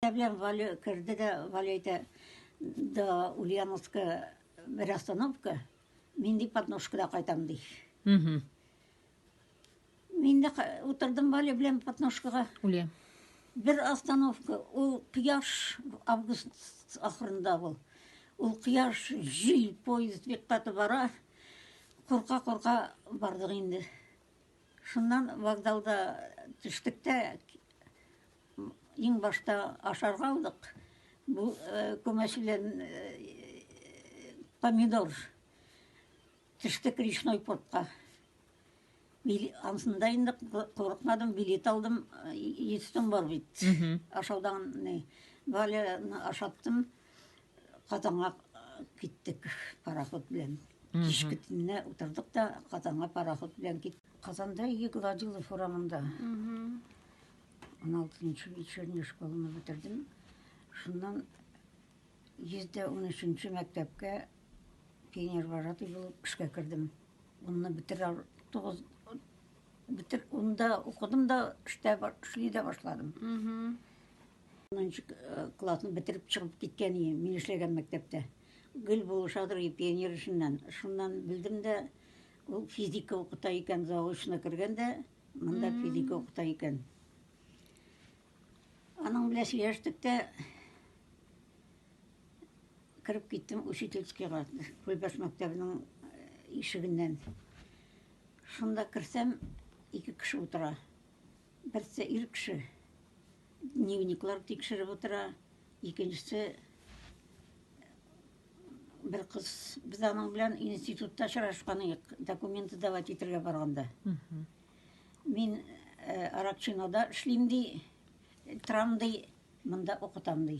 Я белән Валя керде дә, Валя әйтә, да Ульяновска бер остановка, мин ди Подножкада кайтам ди. Мгм. Мин дә ка- утырдым Валя белән Подножкага. Үле. Бер остановка, ул кояш август ахырында ул. Ул кояш, җил, поезд бик каты бара. Курка курка бардык инде. Шуннан вокзалда төштек тә Иң башта ашарга алдык. Бу күмәчеләр помидор төштек речной портка. Ансында инде курыкмадым, билет алдым, естем бар бит. Ашаудан не. Валя ашаттым. Казанга киттек пароход белән. Кичке төнне утырдык та Казанга пароход белән киттек. Казанда Егладилов урамында. 16 вечерняя школаны бетердем. Шуннан 113 мәктәпкә пионер вожатый булып эшкә кердем. Онны битер ал тогыз битер онда укыдым да эштә эшли дә башладым. Мм. Онынчы э, классны бетереп чыгып киткән ие, мин эшләгән мәктәптә. Гөл булышадыр ие пионер эшеннән. Шуннан белдем дә ул физика укыта икән, заочно кергән дә Монда физика укыта икән. Аның белән сөйләштек тә кереп киттем учительскийга, Күлбәш мәктәбенең э, ишегеннән. Шунда керсәм, ике кеше утыра. Берсе ир кеше, дневниклар тикшереп утыра, икенчесе Бер кыз без аның белән институтта очрашкан идек, документы давать итәргә барганда. Мин э, Аракчинода эшлим ди, торам ди, монда укытам ди.